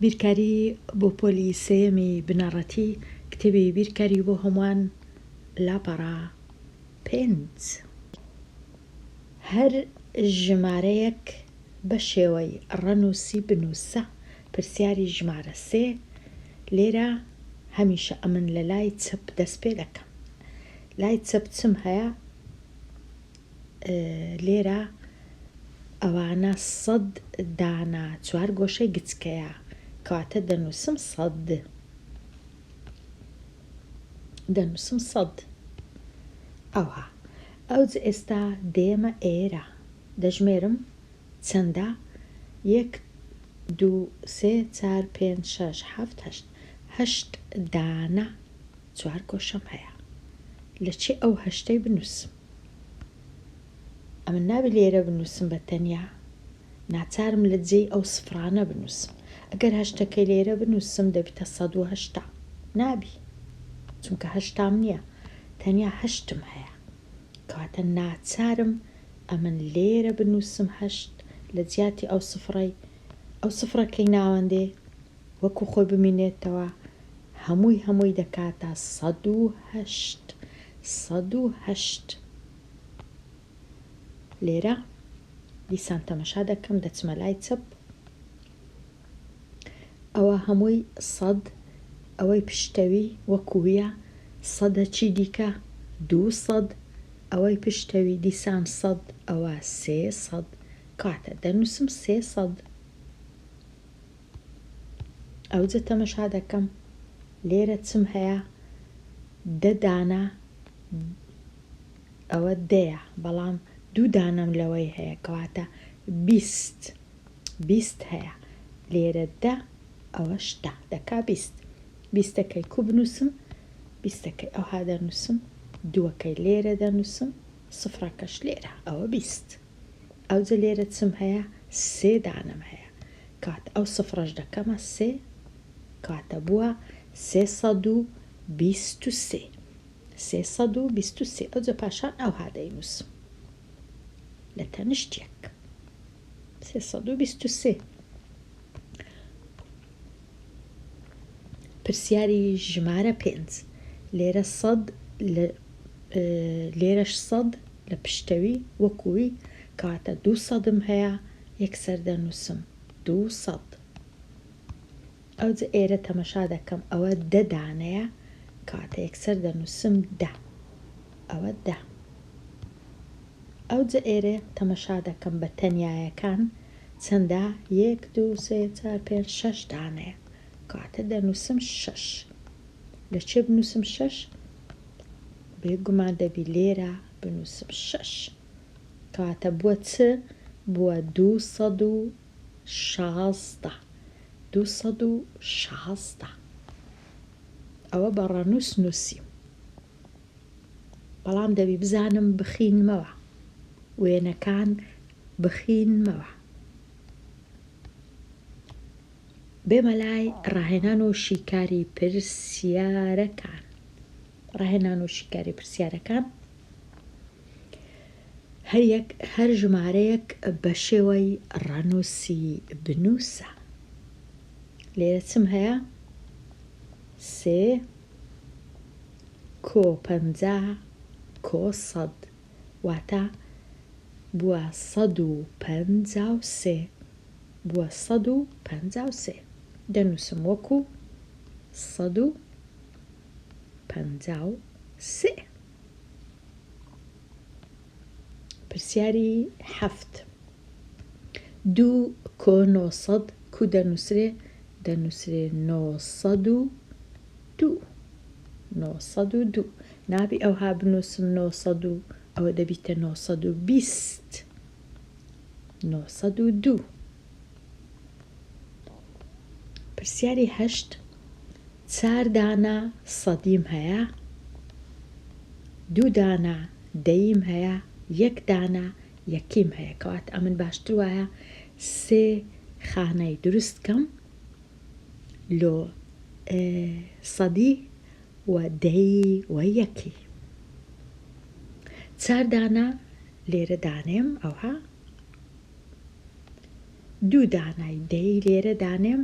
بیرکاری بۆ پۆلی سێیەمی بنەڕەتی کتێبی بیرکاری بۆ هەمووان لاپەڕە پێنج هەر ژمارەیەک بە شێوەی ڕەنووسی بنووسە پرسیاری ژمارە سێ لێرە هەمیشە ئەمن لە لای چەپ دەست پێ دەکەم لای چەپ چم هەیە؟ لێرە ئەوانە سەد دانە چوار گۆشەی گچکەیە کەواتە دەنووسم سەد دەنووسم سەد ئەوها ئەوج ئێستا دێمە ئێرە دەژمێرم چەندە یەک دوو سێ چار پێنج شەش حەفت هەشت هەشت دانە چوار گۆشەم هەیە لە چێ ئەو هەشتەی بنووسم ئەمن نابێ لێرە بنووسم بە تەنیا، ناچارم لە جێی ئەو سفرانە بنووسم. ئەگەر هەشتەکەی لێرە بنووسم دەبیتە سەد و هەشتا. نابی. چونکە هەشتام نییە. تەنیا هەشتم هەیە. کەواتە ناچارم ئەمن لێرە بنووسم هەشت لە جیاتی ئەو سفرەی. ئەو سفرەکەی ناوەندێ وەکوو خۆی بمینێتەوە. هەمووی هەمووی دەکاتە سەد و هەشت سەد و هەشت لێرە دیسان تەمەشا دەکەم دەچمە لای چەپ ئەوە هەمووی سەد ئەوەی پشتەوی وەکوویە سەدە چی دیکە دوو سەد ئەوەی پشتەوی دیسان سەد ئەوە سێ سەد کاتە دەنووسم سێ سەد ئەوجە تەمەشا دەکەم لێرە چم هەیە دە دانە ئەوە دەیە بەڵام دوو دانەم لەوەی هەیە کەواتە بیست بیست هەیە لێرە دە ئەوە شتا دەکا بیست بیستەکەی کو بنووسم بیستەکەی ئەوها دەنووسم دووەکەی لێرە دەنووسم سفرەکەش لێرە ئەوە بیست ئەوجە لێرە چم هەیە سێ دانەم هەیە کات ئەو سفرەش دەکەمە سێ کاتە بووە سێ سەد و بیست و سێ سێ سەد و بیست و سێ ئەوجە پاشان ئەوها دەینووسم لە تەنیشت یەک سێ سەد و بیست و سێ پرسیاری ژمارە پێنج لێرە سەد لە لێرەش سەد لە پشتەوی وەکووی کاتە دوو سەدم هەیە یەکسەر دەنووسم دوو سەد. ئەوجە ئێرە تەمەشا دەکەم ئەوە دە دانەیە کەواتە یەکسەر دەنووسم دە. ئەوە دە. ئەوجە ئێرە تەمەشا دەکەم بە تەنیایەکان چەندە یەک دوو سێ چار پێنج شەش دانەیە کەواتە دەنووسم شەش. لە کوێ بنووسم شەش؟ بێ گومان دەبی لێرە بنووسم شەش. کاتە بووە چ؟ بووە دوو سەد و شازدە. دوو سەد و شازدە. ئەوە بە ڕەنووس نووسیم. بەڵام دەبی بزانم بخینمەوە. وێنەکان بخینمەوە. بێمە لای ڕاهێنان و شیکاری پرسیارەکان. ڕاهێنان و شیکاری پرسیارەکان هەریەک هەر ژمارەیەک بە شێوەی ڕەنووسی بنووسە لێرە چم هەیە سێ کۆ پەنجا کۆ سەد واتە بووە سەد و پەنجا و سێ بووە سەد و پەنجا و سێ دەنووسم وەکو سەد و پەنجا و سێ. پرسیاری حەفت. دوو کۆ نۆ سەد کوو دەنووسرێ؟ دەنووسرێ نۆ سەد و دوو. نۆ سەد و دوو. نابی ئەوها بنووسم نۆ سەد و ئەوە دەبیتە نۆ سەد و بیست. نۆ سەد و دوو. پرسیاری هەشت. چار دانە سەدیم هەیە، دوو دانە دەییم هەیە، یەک دانە یەکیم هەیە، کەواتە ئەمن باشتر وایە سێ خانەی دروست کەم لۆ سەدی و دەیی و یەکی. چار دانە لێرە دانێم ئەوها، دوو دانەی دەیی لێرە دانێم،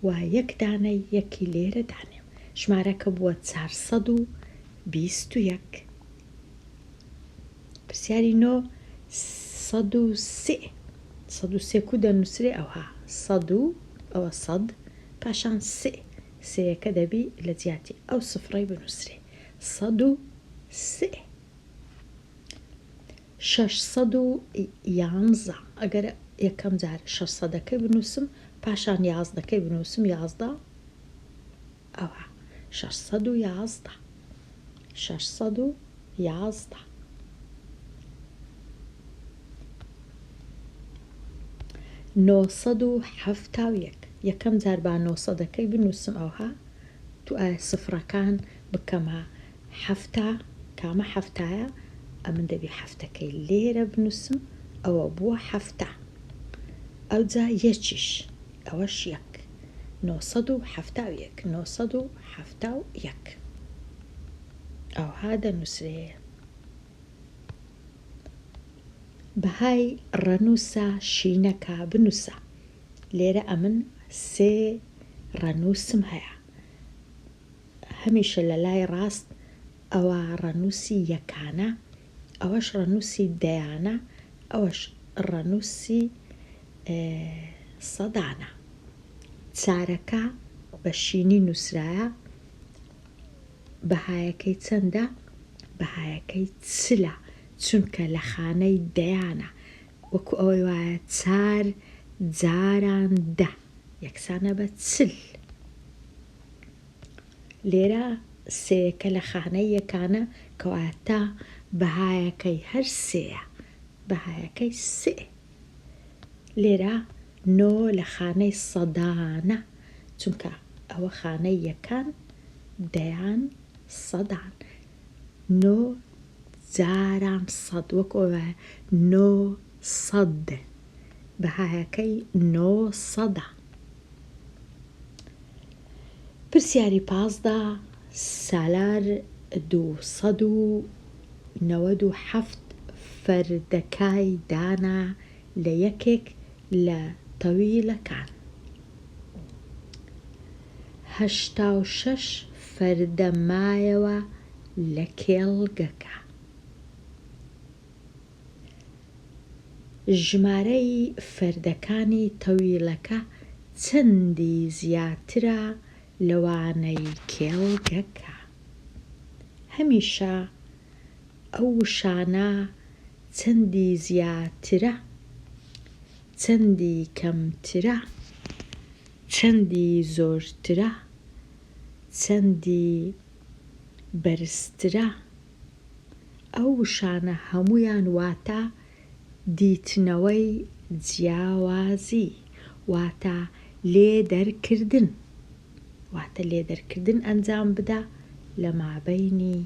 و یەک دانە یەکی لێرە دانێ و ژمارەکە بووە چار سەد و بیست و یەک. پرسیاری نۆ سەد و سێ سەد و سێ کوو دەنووسرێ ئەوها سەد و ئەوە سەد پاشان سێ سێیەکە دەبی لە جیاتی ئەو سفڕەی بنووسرێ سەد و سێ. شەش سەد و یانزە، ئەگەر یەکەم جار شەش سەدەکەی بنووسم، پاشان یازدەکەی بنووسم، یازدە، ئەوا شەش سەد و یازدە. شەش سەد و یازدە. نۆ سەد و حەفتا و یەک، یەکەم جار با نۆ سەدەکەی بنووسم، ئەوها دوو سفرەکان بکەمە حەفتا کامە حەفتایە ئەمن دەبی حەفتەکەی لێرە بنوسم ئەوە بوە حەفتا ئەوجا یەکیش ئەوەش یەک نۆ سەد و حەفتا و یەک نۆ سەد و حەفتا و یەک ئەوها دەنوسرێ بەهای ڕەنوسە شینەکە بنوسە لێرە ئەمن سێ ڕەنوسم هەیە. هەمیشە لە لای ڕاست ئەوە ڕەنووسی یەکانە، ئەوەش ڕەنووسی دەیانە، ئەوەش ڕەنووسی سەدانە. چارەکە بە شینی نووسرایە، بەهایەکەی چەندە؟ بەهایەکەی چلە، چونکە لە خانەی دەیانە، وەکو ئەوەی وایە چار جاران دە یەکسانە بە چل. لێرە سێ یەکە لە خانەی یەکانە کەواتە بەهایەکەی هەر سێیە بەهایەکەی سێ لێرە نۆ لە خانەی سەدانە چونکە ئەوە خانەی یەکان دەیان سەدان نۆ جاران سەد وەک ئەوە نۆ سەد بەهایەکەی نۆ سەدە. پرسیاری پازدە، سالار دوو سەد و نەوەد و حەفت فەردەکای دانا لە یەکێک لە تەویلەکان. هەشتا و شەش فەردە مایەوە لە کێڵگەکە. ژمارەی فەردەکانی تەویلەکە چەندی زیاترە لەوانەی کێڵگەکە. هەمیشە ئەو وشانە چەندی زیاترە، چەندی کەمترە، چەندی زۆرترە، چەندی بەرزترە. ئەو وشانە هەموویان واتە دیتنەوەی جیاوازی واتە لێدەرکردن واتە لێدەرکردن ئەنجام بدە لە مابەینی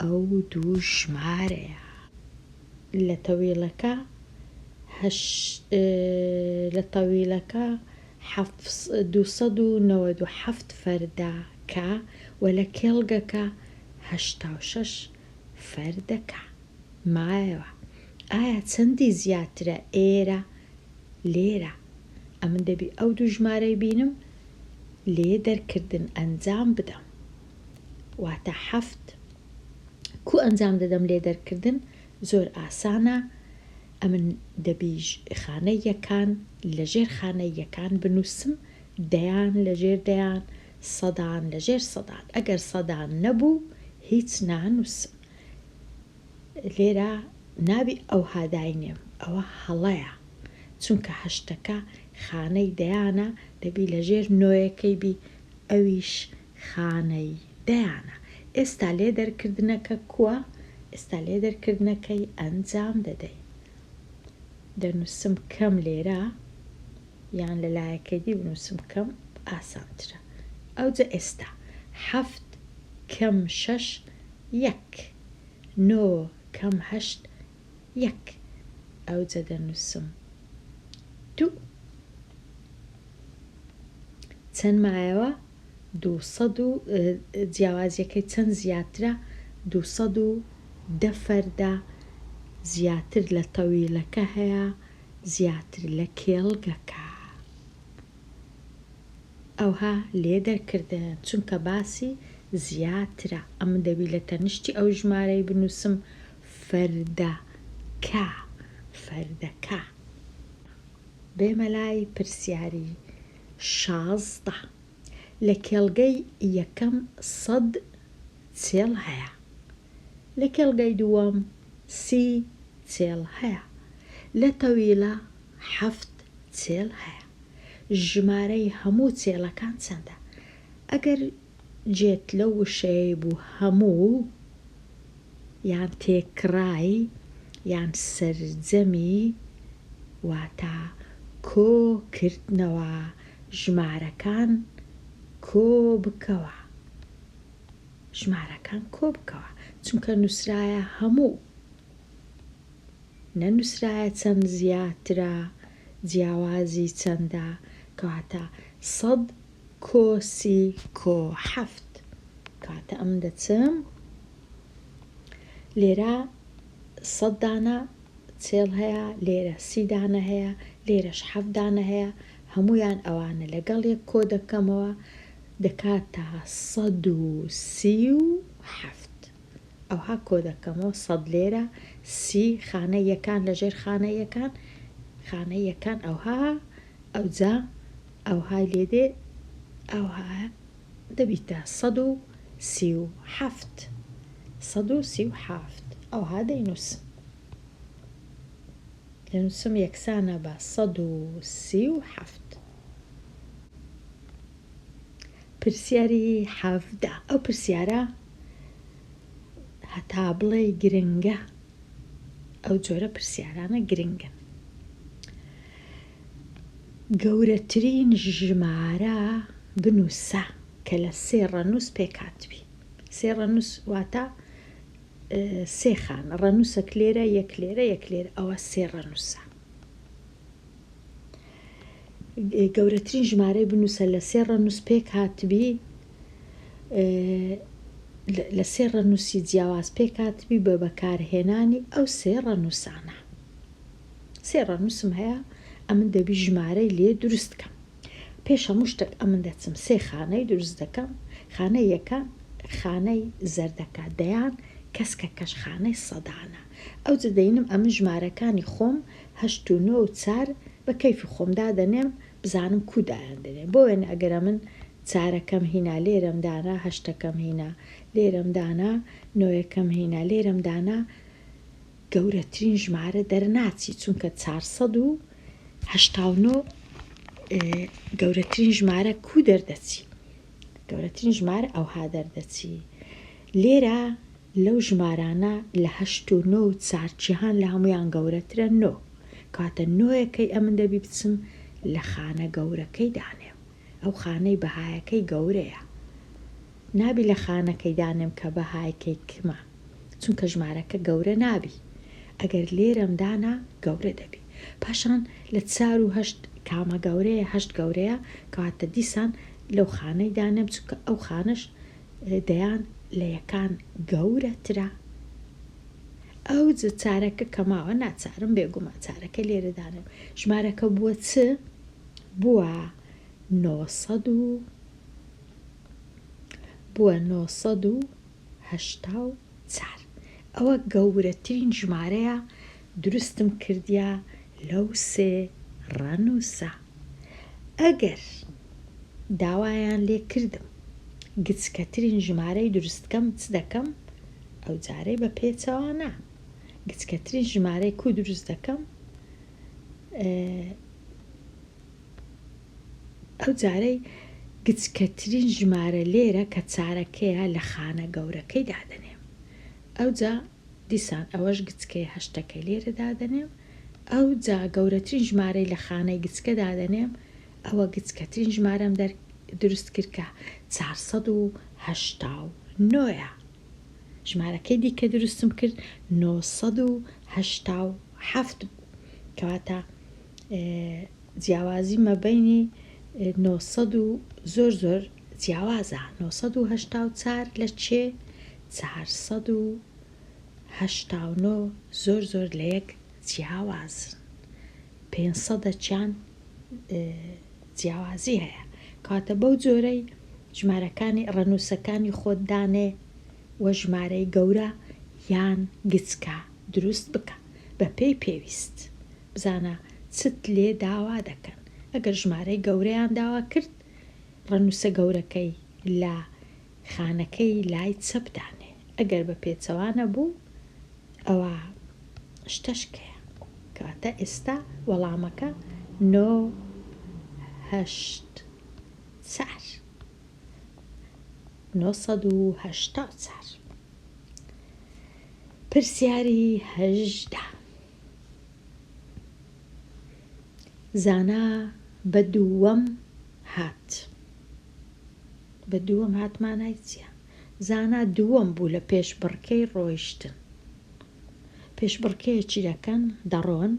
ئەو دوو ژمارەیە. لە تەویلەکە هەشت لە تەویلەکە حەفت دوو سەد و نەوەد و حەفت فەردە کە وە لە کێڵگەکە هەشتا و شەش فەر دەکا مایەوە ئایا چەندی زیاترە ئێرە لێرە ئەمن دەبی ئەو دوو ژمارەی بینم لێ دەرکردن ئەنجام بدەم واتە حەفت کو ئەنجام دەدەم لێ دەرکردن زۆر ئاسانە ئەمن دەبی خانە یەکان لە ژێر خانە یەکان بنووسم دەیان لە ژێر دەیان سەدان لە ژێر سەدان ئەگەر سەدان نەبوو هیچ نانوس لێرە نابی ئەوها داینێم ئەوە هەڵەیە چونکە هەشتەکە خانەی دەیانە دەبی لە ژێر نۆیەکەی بی ئەویش خانەی دەیانە ئێستا لێ دەرکردنەکە کوە ئێستا لێ دەرکردنەکەی ئەنجام دەدەی دەنوسم کەم لێرە یان لە لایەکەدی بنووسم بکەم ئاسانترە ئەوجە ئێستا حەفت کەم شەش یەک نۆ کەم هەشت یەک ئەوجە دەنووسم دوو چەند مایەوە دوو سەد و جیاوازیەکەی چەند زیاترە دوو سەد و دە فەردە زیاتر لە تەویلەکە هەیە زیاتر لە کێڵگەکە ئەوها لێ دەرکردە چونکە باسی زیاترە ئەمن دەبی لە تەنشتی ئەو ژمارەی بنوسم فەردە کە فەردەکە بێمە لای پرسیاری شازدە لە کێڵگەی یەکەم سەد چێڵ هەیە. لە کێڵگەی دووەم سی چێڵ هەیە. لە تەویلە حەفت چێڵ هەیە. ژمارەی هەموو چێڵەکان چەندە؟ ئەگەر جێت لەو وشەیەی بوو هەموو یان تێکڕای یان سەرجەمی واتە کۆ کردنەوە ژمارەکان کۆ بکەوە. ژمارەکان کۆبکەوە چونکە نوسرایە هەموو نەنوسرایە چەند زیاترە جیاوازی چەندە کەواتە سەد کۆ سی کۆ حەفت کەواتە ئەمن دەچم لێرە سەد دانە چێڵ هەیە لێرە سی دانە هەیە لێرەش حەفت دانە هەیە هەمویان ئەوانە لەگەڵ یەک کۆ دەکەمەوە دەکاتە سەد و سی و حەفت ئەوها کۆ دەکەمەوە سەد لێرە سی خانە یەکان لە ژێر خانە یەکان خانە یەکان ئەوها ئەوجا ئەوهای لێ دێ ئەوها دەبیتە سەد و سی و حەفت سەد و سی و حەفت ئەوها دەینووسم دەنووسم یەکسانە بە سەد و سی و حەفت پرسیاری حەڤدە، ئەو پرسیارە هەتا بڵێی گرنگە، ئەو جۆرە پرسیارانە گرنگن. گەورەترین ژمارە بنووسە کە لە سێ ڕەنووس پێکهاتبی. سێ ڕەنووس واتە سێ خانە، ڕەنووسەک لێرە، یەک لێرە، یەک لێرە، ئەوە سێ ڕەنووسە. گەورەترین ژمارەی بنووسە لە سێ ڕەنووس پێک هاتبی لە سێ ڕەنووسی جیاواز پێک هاتبی بە بەکارهێنانی ئەو سێ ڕەنووسانە سێ ڕەنووسم هەیە ئەمن دەبی ژمارەی لێ دروست کەم پێش هەموو شتێک ئەمن دەچم سێ خانەی دروست دەکەم خانە یەکە خانەی زەردەکە دەیان کەسکە کەشخانەی سەدانە ئەو جدەینم ئەمن ژمارەکانی خۆم هەشت و نۆ و چار بە کەیفی خۆم دادەنێم بزانم کوو دایاندەنێ بۆ وێنە ئەگەر ئەمن چارەکەم هینا لێرەم دانا هەشتەکەم هینا لێرەم دانا نۆیەکەم هینا لێرەم دانا گەورەترین ژمارە دەرناچی چونکە چار سەد و هەشتا و نۆ گەورەترین ژمارە کوو دەردەچی گەورەترین ژمارە ئەوها دەردەچی لێرە لەو ژمارانە لە هەشت و نۆ و چار جیهان لە هەموویان گەورەترە نۆ کەواتە نۆیەکەی ئەمن دەبی بچم لە خانە گەورەکەی دانێم ئەو خانەی بەهایەکەی گەورەیە نابی لە خانەکەی دانێم کە بەهایکەی کمە چونکە ژمارەکە گەورە نابی ئەگەر لێرەم دانا گەورە دەبی پاشان لە چار و هەشت کامە گەورەیە هەشت گەورەیە کەواتە دیسان لەو خانەی دانێم چونکە ئەو خانەش دەیان لە یەکان گەورە ترە ئەوجە چارەکە کە ماوە ناچارم بێگومان چارەکە لێرە دانێم ژمارەکە بووە چ بووە نۆ سەد و بووە نۆ سەد و هەشتا و چار. ئەوە گەورەترین ژمارەیە دروستم کردیە لەو سێ ڕەنوسە. ئەگەر داوایان لێ کردم گچکەترین ژمارەی دروست کەم چ دەکەم؟ ئەو جارەی بە پێچەوە نا. گچکەترین ژمارەی کو دروست دەکەم؟ ئە. ئەو جارەی گچکەترین ژمارە لێرە کە چارەکەیە لە خانە گەورەکەی دادەنێم ئەوجا دیسان ئەوەش گچکەیە هەشتەکەی لێرە دادەنێم ئەوجا گەورەترین ژمارەی لە خانەی گچکە دادەنێم ئەوە گچکەترین ژمارەم دەر دروست کرد کە چار سەد و هەشتا و نۆیە ژمارەکەی دیکە دروستم کرد نۆ سەد و هەشتا و حەفت بوو کەواتە جیاوازی مەبەینی نۆ سەد و زۆر زۆر جیاوازە نۆ سەد و هەشتا و چار لە چێ چار سەد و هەشتا و نۆ زۆر زۆر لە یەک جیاوازن پێنج سەدە چیان جیاوازی هەیە کاتە بەو جۆرەی ژمارەکانی ڕەنووسەکانی خۆت دانێ وە ژمارەی گەورە یان گچکە دروست بکە. بەپێی پێویست. بزانە چت لێ داوا دەکەن. ئەگەر ژمارەی گەورەیان داوا کرد، ڕەنووسە گەورەکەی لە خانەکەی لای چەپ دانێ. ئەگەر بە پێچەوانە بوو، ئەوا شتەش کەیە. کەواتە ئێستا وەڵامەکە نۆ هەشت چار. نۆ سەد و هەشتا و چار. پرسیاری هەژدە. زانا بە دووەم هات. بە دووەم هات مانای چیە؟ زانا دووەم بوو لە پێشبڕکێی ڕۆیشتن. پێشبڕکێیەکی دەکەن دەڕۆن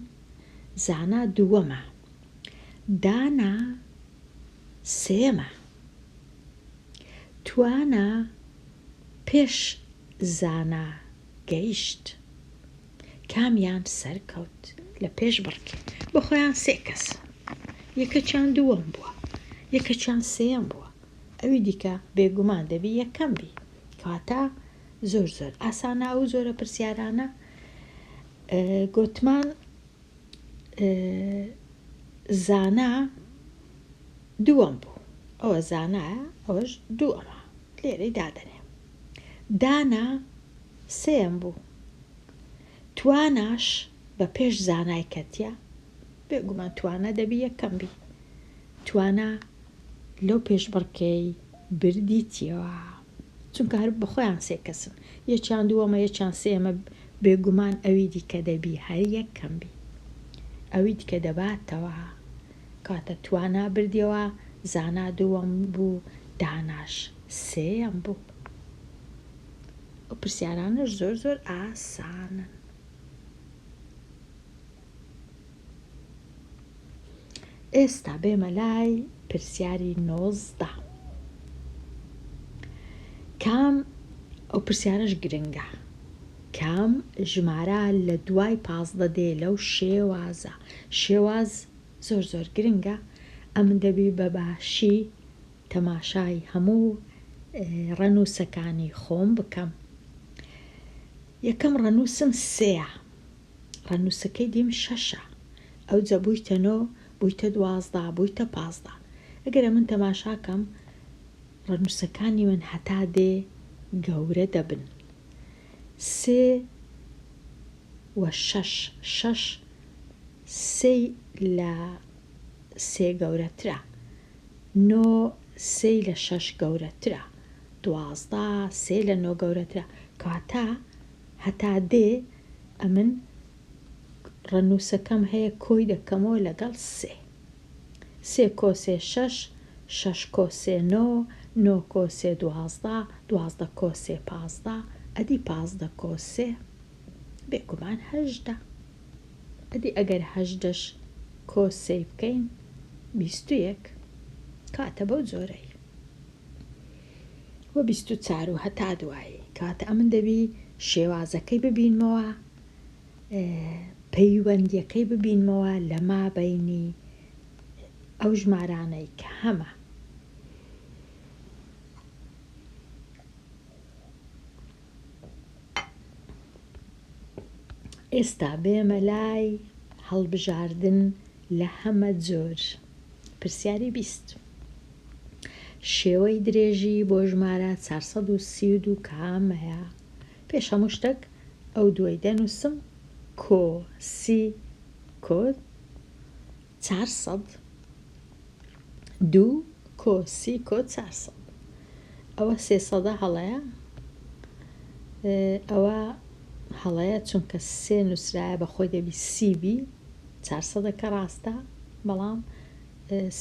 زانا دووەمە. دانا سێمە. توانا پێش زانا گەیشت کامیان سەرکەوت لە پێش بڕکێ بە خۆیان سێ کەس یەکەکیان دووەم بووە یەکەکیان سێیەم بووە ئەوی دیکە بێگومان دەبی یەکەم بی کەواتە زۆر زۆر ئاسانە ئەو جۆرە پرسیارانە گۆتمان زانا دووەم بوو ئەوە زانایە ئەوەش دووەمە لێرەی دادەنێ دانا سێم بوو تواناش بە پێش زانای کەتیە بێگومان توانە دەبی یەکەم بی توانا لەو پێشبڕکێی بردیتیەوە چونکە هەر بەخۆیان سێ کەسن یەکیان دووەمە یەکیان سێیەمە بێگومان ئەوی دیکە دەبی هەر یەک کەم بی ئەوی دیکە دەباتەوە کاتە توانا بردیەوە زانا دووەم بوو داناش سێیەم بوو ئەو پرسیارانەش زۆر زۆر ئاسانن. ئێستا بێمە لای پرسیاری نۆزدە کام ئەو پرسیارش گرنگە کام ژمارە لە دوای پازدە دێ لەو شێوازە شێواز زۆر زۆر گرنگە ئەم دەبی بە باشی تەماشای هەموو ڕەنووسەکانی خۆم بکەم یەکەم ڕەنووسم سێە ڕەنووسەکەی دیم شەشە ئەوجە بوویتە نۆ بوویتە دوازدە بوویتە پازدە ئەگەر ئەمن تەماشا کەم ڕەنووسەکانی من هەتا دێ گەورە دەبن سێ و شەش شەش سێی لە سێ گەورەترە نۆ سێی لە شەش گەورەترە دوازدە سێ لە نۆ گەورەترە کەواتە هەتا دێ ئەمن ڕەنووسەکەم هەیە کۆی دەکەمەوە لەگەڵ سێ. سێ کۆ سێ شەش، شەش کۆ سێ نۆ، نۆ کۆ سێ دوازدە، دوازدە کۆ سێ پازدە، ئەدی پازدە کۆ سێ؟ بێگومان هەژدە. ئەدی ئەگەر هەژدەش کۆ سێی بکەین بیست و یەک. کاتە بەو جۆرەی. و بیست و چار و هەتا دوایی کەواتە ئەمن دەبی شێوازەکەی ببینمەوە پەیوەندیەکەی ببینمەوە لە ما بینی ئەو ژمارانەی کە هەمە ئێستا بێمە لای هەڵبژاردن لە هەمە جۆر. پرسیاری بیست. شێوەی درێژی بۆ ژمارە چار سەد و سی و دوو کامەیە؟ پێش هەموو شتەک ئەو دووەی دەنووسم، کۆ، سی، کۆت، چار سەد دوو کۆ سی کۆ چار سەد ئەوە سێ سەدە هەڵەیە ئەوە هەڵەیە چونکە سێ نووسرایە بە خۆی دەبی سی بی چار سەدە کە ڕاستە بەڵام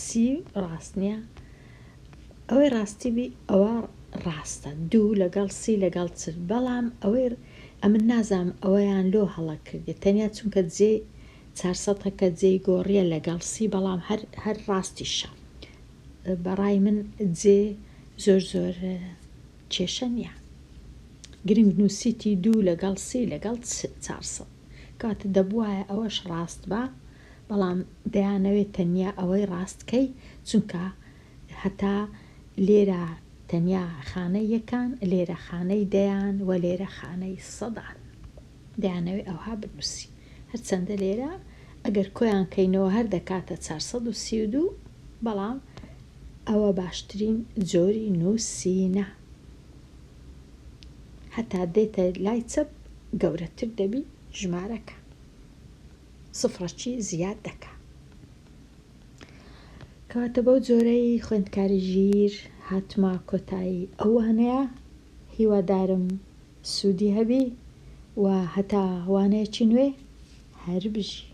سی ڕاست نییە ئەوەی ڕاستی بی ئەوە ڕاستە دوو لەگەڵ سی لەگەڵ چل بەڵام ئەوەی ئەمن نازام ئەوەیان لۆ هەڵە کردێت تەنیا چونکە جێ چار سەتەکە جێی گۆڕیە لەگەڵ سی بەڵام هەر هەر ڕاستیشە بەڕای من جێ زۆر زۆر کێشە نییە گرنگ نووسیتی دوو لەگەڵ سی لەگەڵ چار سەد کاتە دەبواە ئەوەش ڕاست بە بەڵام دەیانەوێت تەنیا ئەوەی ڕاستکەی چونکە هەتا لێرە تەنیا خانەی یەکان لێرە خانەی دەیان و لێرە خانەی سەدان. دەیانەوێ ئەوها بنووسی. هەرچەندە لێرە ئەگەر کۆیان کەینەوە هەر دەکاتە چوار سەد و سی و دوو، بەڵام ئەوە باشترین جۆری نووسینە. هەتا دێتە لای چەپ گەورەتر دەبی ژمارەکە. سفرەکی زیاد دەکا. کەواتە بەو جۆرەی خوێندکاری ژیر هاتمە کۆتایی ئەو وانەیە. هیوادارم سودی هەبی و هەتا وانەیەکی نوێ هەر بژی.